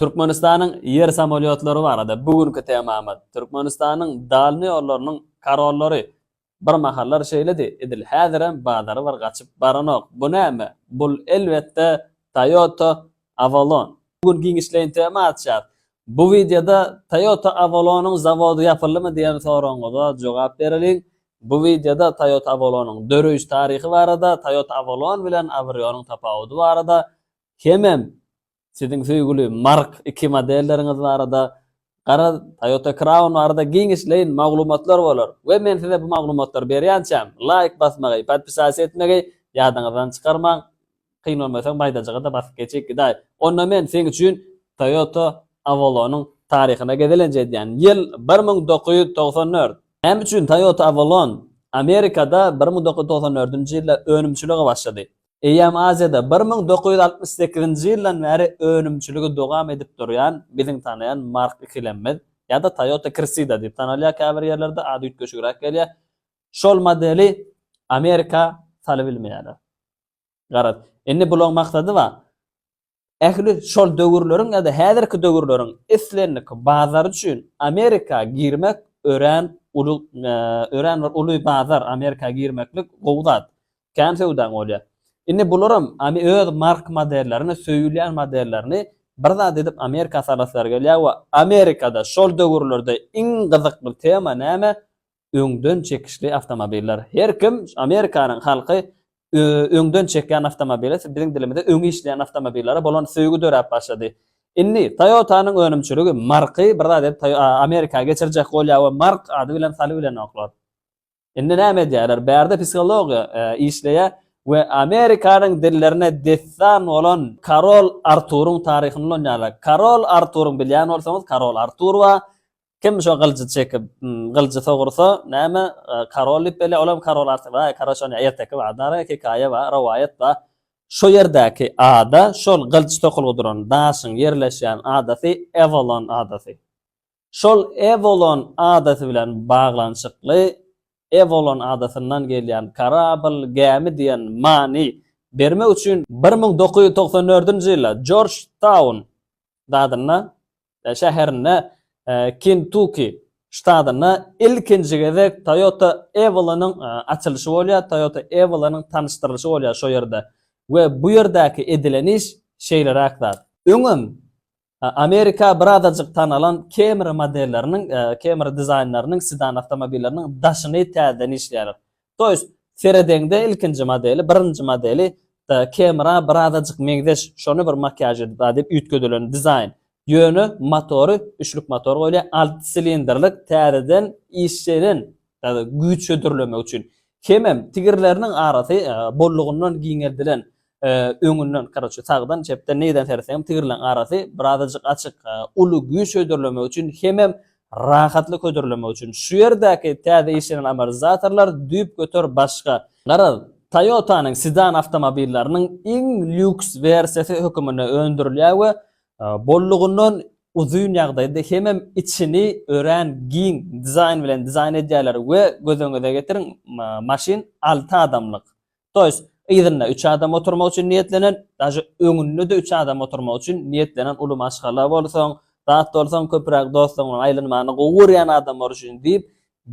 Türkmenistanyň ýer samolýotlary barada bu günki temamyz. Türkmenistanyň dalny ýollarynyň karollary. Bir mahallar şeýledi, edil häzirem bazary bir gaçyp baranok. Bu näme? Bul elbetde Toyota Avalon. Bu gün giňişleýin tema açýas. Bu wideoda Toyota Avalonyň zawody ýapyldymy diýen soragyňyza jogap bereliň. Bu wideoda Toyota Avalonyň döreýiş taryhy barada, Toyota Avalon bilen Avrionyň tapawudy barada hemem Siziň söýgüli Mark iki modelleriňiz barada, gara Toyota Crown barada giňişleýin maglumatlar bolar we men size bu maglumatlary berýänçäm, laýk basmagy, podpisas etmegi ýadyňyzdan çykarmaň, kyn bolmasa maýdajyga-da basyp geçip gidäý. Onda men seň üçin Toyota Avalon-yň taryhyna gezelenç edýän. Ýyl bir müň dokuz ýüz togsan dört. Näme üçin Toyota Avalon Amerikada bir müň dokuz ýüz togsan dördünji ýylda önümçilige başlady? Eýýäm Aziýada bir müň dokuz ýüz altmyş sekizinji ýyldan bäri önümçiligi dowam edip durýan biziň tanaýan Mark ikilemimiz, ýa-da Toyota Cressida diýip tanalýar, käbir ýerlerde ady üýtgeşigräk gelýär, şol modeli Amerika salybilmeýärler. Garaz, indi bulaň maksady bar. Ähli şol döwürleriň ýa-da häzirki döwürleriň islendik bazary üçin Amerika girmek örän uly örän bir uly bazar Amerika girmeklik gowy zat. Kän söwdaň bolýar. Indi bularam öz mark modellerini söýülýän modellerini bir zat edip Amerika salasylary gelýär we Amerikada şol döwürlerde iň gyzykly tema näme öňden çekişli awtomobiller. Her kim, Amerikanyň halky öňden çekýän awtomobile, biziň dilimizde öňi işleýän awtomobillere bolan söýgi döräp başlady. Indi Toyota-nyň önümçiligi marky bir zat edip Amerika geçirjek bolýar we mark ady bilen saly bilenoklar. Indi näme edýärler? Bärde psihologiýa işleýär we Amerikanyň dillerine dessan bolan Karol Arturyň taryhyny ulanýarlar. Karol Arturyň bilýän bolsaňyz, Karol Artur bar. Kim şo gylyjy çekip, gylyjy sogursa, näme, karol diýip belleýär, olam karol artyp, aý, karaş ony erteki bar, dara hekaýa bar, rowaýat bar. Şo ýerdäki ada, şol gylyç sokulgy duran daşyň ýerleşýän adasy Ewolon adasy. Şol Ewolon adasy bilen baglanyşykly Ewolon adasyndan gelýän karabl, gämi diýen many bermek üçin, bir müň dokuz ýüz togsan dördünji ýylda Jorjtaun ştatynda şäherinde Kentuki ştatynda ilkinji gezek Toyota Avalon-yň açylyşy bolýar, Toyota Avalon-yň tanyşdyrylyşy bolýar şo ýerde we bu ýerdäki edilen iş şeýleräk zat. Öňem Amerika birazajyk tanalan Camry modelleriniň, Camry dizaýnlarynyň sedan awtomobilleriniň daşyny täzeden işleýärler. To ýest, seredeňde ilkinji modeli, birinji modeli Camry-a birazajyk meňzeş, şony bir makiýaž edip a diýip üýtgedilen dizaýn. Ýöne motory, üçlük motor goýulýar, alty silindrlik, täzeden işlenen, güýç hödürlemek üçin. Hemem tigirleriniň arasy bollugyndan giňeldilen. öňünden, karoçe, sagdan, çepden, neýden seretseňem tigirleň arasy birazajyk açyk. Uly güýç hödürlemek üçin hemem rahatlyk hödürlemek üçin. Şu ýerdäki täze işlenen amortizatorlar düýpgöter başga. Garaz, Toyota-nyň sedan awtomobillarynyň iň lýuks wersiýasy höküminde öndürilýär we bollugyndan uzyn ýagdaýda hemem içini örän giň dizaýn bilen dizaýn edýärler we göz öňüňize getiriň, maşyn alty adamlyk. To ýest, yzynda üç adam oturmak üçin niýetlenen, daže öňünde-de üç adam oturmak üçin niýetlenen uly maşgala bolsaň, zat bolsaň, köpräk dostlaryň bilen aýlanmany gowy görýän adamlar üçin diýip,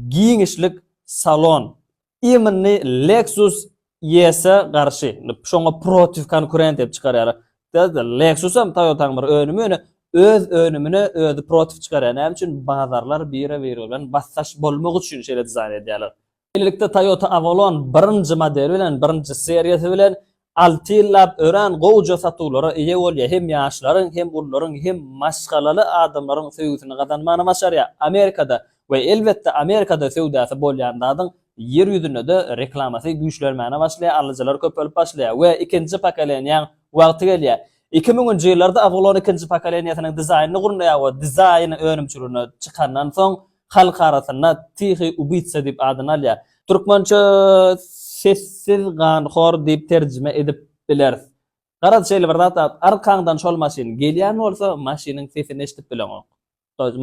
giňişlik salon. Imminy Lexus ES-e garşy, şoňa protiv konkurent diýip çykarýarlar. Täze Lexus hem Toyota-nyň bir önümi, ýöne öz önümine özi protiv çykarýar. Näme üçin? Bazarlar biri-biri bilen basdaş bolmak üçin şeýle dizaýn edýärler. Şeýlelikde, Toyota Avalon birinji modeli bilen, birinji seriýasy bilen alty ýyllap örän gowuja satuwlara eýe bolýar, hem ýaşlaryň, hem ulularyň, hem maşgalaly adamlaryň söýgüsini gazanmagyny başarýar. Amerikada we elbetde Amerikada söwdasy bolýan zadyň Ýer ýüzünde-de reklamasy güýçlenmäne başlaýar, alyjylar köpelip başlaýar we ikinji pokoleniýäň wagty gelýär. Iki müňünji ýyllarda Avalon ikinji pokoleniýasynyň dizaýnyny gurnaýar we dizaýny önümçiligine çykandan soň, halk arasynda Tihiý ubitsa diýip adyny alýar. Türkmençe sessiz ganhor diýip terjime edip bileris. Garaz şeýle bir zat bar, arkaňdan şol maşyn gelýän bolsa, maşynyň sesini eşidip bileňok.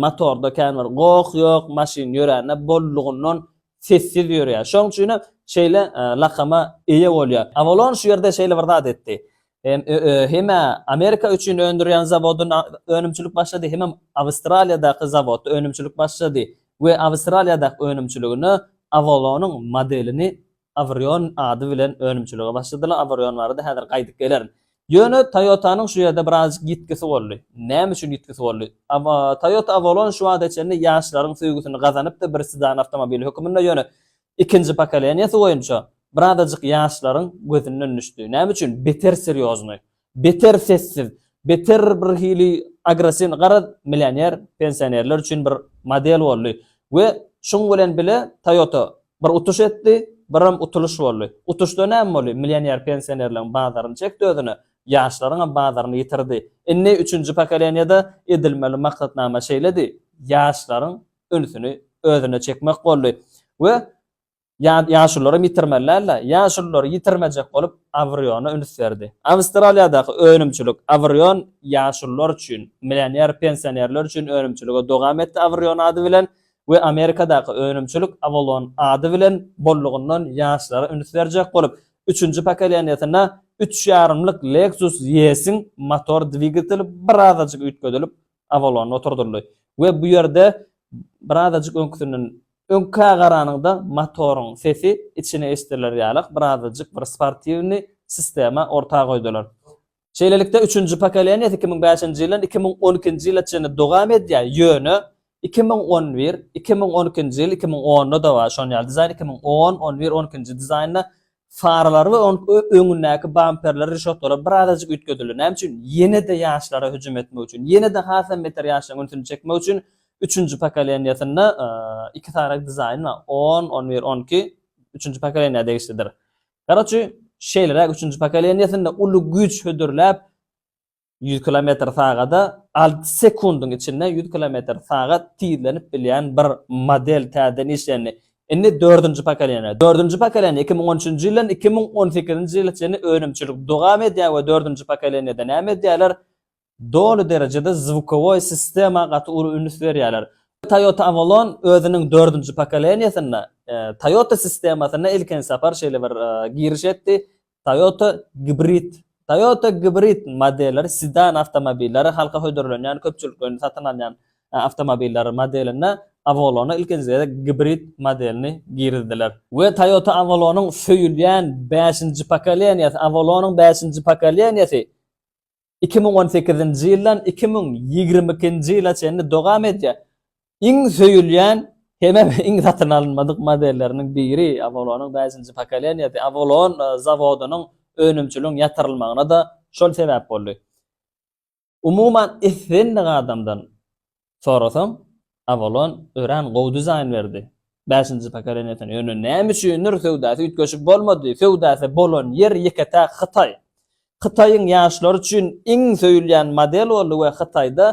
Motorda kän bir goh ýok, maşyn ýörände bollugyndan Sessiz ýörýär. Şoň üçin hem şeýle lakama eýe bolýar. Avalon şu ýerde şeýle bir zat etdi. Hem Amerika üçin öndürýän zawodyn önümçilik başlady, hemem Awstraliýadaky zawodda önümçilik başlady we Awstraliýadaky önümçiligine Avalonyň modelini Avrion ady bilen önümçilige başladylar. Avrion barada häzir gaýdyp gelerin. Ýöne Toyota-nyň şu ýerde birazajyk ýitgisi boldy. Näme üçin ýitgisi boldy? Toyota Avalon şu wagta çenli ýaşlaryň söýgüsini gazanypdy bir sedan awtomobil höküminde, ýöne ikinji pokoleniýasy boýunça birazajyk ýaşlaryň gözünden düşdi. Näme üçin? Beter serýoznyý, beter sessiz, beter bir hili agressiwnyý, garaz, millioner pensionerler üçin bir model boldy we şuň bilen bile Toyota Bir utuş etdi, birem utulyş boldy. Utuşda näme boldy? Millioner pensionerleň bazaryny çekdi özüne, ýaşlaryňam bazaryny ýitirdi. Indi üçünji pokoleniýada edilmeli maksatnama şeýledi, ýaşlaryň ünsüni özüne çekmek boldy we ýaşulularam ýitirmeli däldi. Ýaşululary ýitirmejek bolup Avriona üns berdi. Awstraliýadaky önümçilik Avrion ýaşulular üçin, millioner pensionerler üçin önümçiligi dowam etdi Avrion ady bilen we Amerikadaky önümçilik Avalon ady bilen bollugyndan ýaşlara üns berjek bolup, üçünji pokoleniýesine üç ýarymlyk Lexus ES-iň motor dwigateli birazajyk üýtgedilip, Avalon oturdyldy we bu ýerde birazajyk öňküsinden öňkä garanyňda motoryň sesi içine eşidilýär ýaly birazajyk bir sportiwnyý sistema orta goýdular. Şeýlelikde, üçünji pokoleniýasy iki müň bäşinji ýyldan iki müň on ikinji ýyla çenli dowam edýär, ýöne iki müň on bir, iki müň on ikinji ýyl, iki müň onda-da bar şon ýaly dizaýn, iki müň on, on bir, on ikinji dizaýnda faralary we onuň öňündäki bamperleri, rişotkalary birazajyk üýtgedildi. Näme üçin? Ýene-de ýaşlara hüjüm etmek üçin, ýene-de has hem beter ýaşlaryň ünsüni çekmek üçin üçünji pokoleniýasynda iki sany dizaýn bar, on, on bir, on iki, üçünji pokoleniýa degişlidir. Garoçy, şeýleräk üçünji pokoleniýesinde uly güýç hödürläp, ýüz kilometr sagada alty sekundyň içinde ýüz kilometr sagat tizlenip bilýän bir model täzeden işlendi. Indi dördünji pokoleniýa. Dördünji pokoleniýa iki müň on üçünji ýyldan iki müň on sekizinji ýyla çenli önümçilik dowam edýär we dördünji pokoleniýada näme edýärler? Doly derejede zvukowoý sistema gaty uly üns berýärler. Toyota Avalon özüniň dördünji pokoleniýesinde Toyota sistemasyna ilkinji sapar şeýle bir giriş etdi, Toyota Gibrid. Toyota Gibrid modelleri sedan awtomobilleri, halka hödürlenýän, köpçülik öýünde satyn alynýan awtomobilleri modelinde Avalona ilkinji gezek Gibrid modelini girizdiler. We Toyota Avalonyň söýülýän bäşinji pokoleniýesi, Avalonyň bäşinji pokoleniýesi iki müň on sekizinji ýyldan iki müň ýigrimi ikinji ýyla çenli dowam edýär. Iň söýülýän hemem iň satyn alynmadyk modelleriniň biri Avalon-yň bäşinji pokoleniýasy. Avalon zawodynyň önümçiligiň ýatyrylmagyna-da şol sebäp boldy. Umuman, islendik adamdan Sorasam Avalon örän gowy dizaýn berdi. Bäşinji pokoleniýasyny ýöne näme üçindir söwdasy üýtgeşik bolmady. Söwdasy bolan ýer ýeke-täk Hytaý. Hytaýyň ýaşlary üçin iň söýülýän model boldy we Hytaýda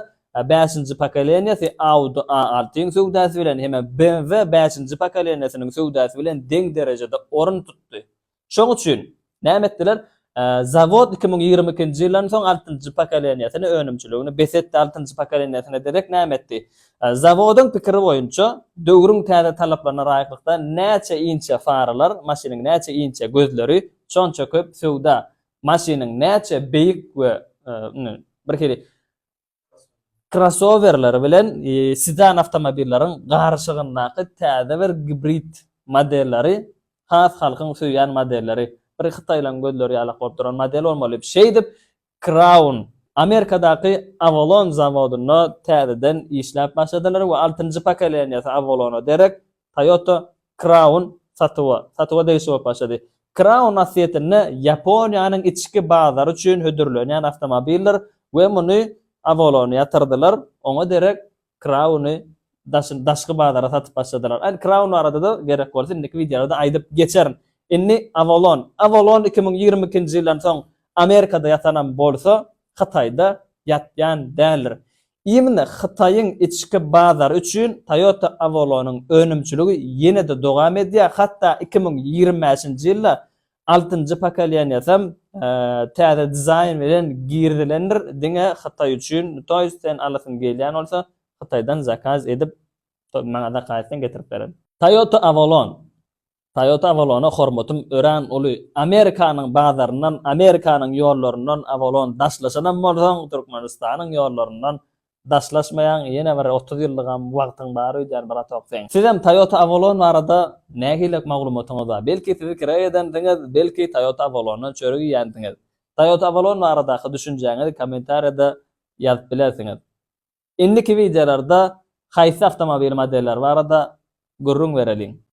bäşinji pokoleniýasy Audi A altyň söwdasy bilen hem-ä BMW bäşinji pokoleniýasynyň söwdasy bilen deň derejede orun tutdy. Şoň üçin näme etdiler? Zawod iki müň ýigrimi ikinji ýyldan soň altynjy pokoleniýasyny, önümçiligini bes etdi. Altynjy pokoleniýasyna derek näme etdi? Zawodyň pikiri boýunça, döwrüň täze talaplaryna laýyklykda näçe inçe faralar, maşynyň näçe inçe gözleri, şonça köp söwda. Maşynyň näçe beýik we, indi, birhili, Krossowerler bilen sedan awtomobilleriň garyşygyndaky täze bir gibrid modelleri has halkyň söýýän modelleri. Bir hytaýlaryň gözleri ýalak bolup duran model bolmaly. Şeýdip, Crown Amerikadaky Avalon zawodynda täzeden işläp başladylar we altynjy pokoleniýasy Avalona derek Toyota Crown satuwa satuwa degişli bolup başlady. Crown asliyetinde Ýaponiýanyň içki bazary üçin hödürlenýän awtomobildir we muny Avalon ýatyrdylar, oňa derek Crown-y daşyn daşky bazara satyp başladylar. Aýn Crown barada-da gerek bolsa indiki wideolarda aýdyp geçerin. Indi Avalon. Avalon iki müň ýigrimi ikinji ýyldan soň Amerikada ýatanam bolsa, Hytaýda ýatýan däldir. Ýygyna Hytaýyň içki bazary üçin Toyota Avalon-yň önümçiligi ýene-de dowam edýär, hatda iki müň ýigrimi bäşinji ýylda altynjy pokoleniýasam täze dizaýn bilen girizilendir, diňe Hytaý üçin Toys sen alasyň gelýän bolsa, Hytaýdan zakaz edip maňa zakaz etseň getirip bererin. Toyota Avalon Toyota Avalon-a hormatym örän uly. Amerikanyň bazaryndan, Amerikanyň ýollaryndan Avalon daşlaşanam bolsaň, Türkmenistanyň ýollaryndan daşlaşmaýaň, ýene bir otuz ýyllygam wagtyň bar öýdýän bratok seň. Sizem Toyota Avalon barada nähilek maglumatyňyz bar? Belki sizi kireý edendiňiz, belki Toyota Avalondan çörek iýendiňiz. Toyota Avalon baradaky düşünjäňizi kommentariýada ýazyp bilersiňiz. Indiki wideolarda haýsy awtomobil modelleri barada gürrüň bereliň.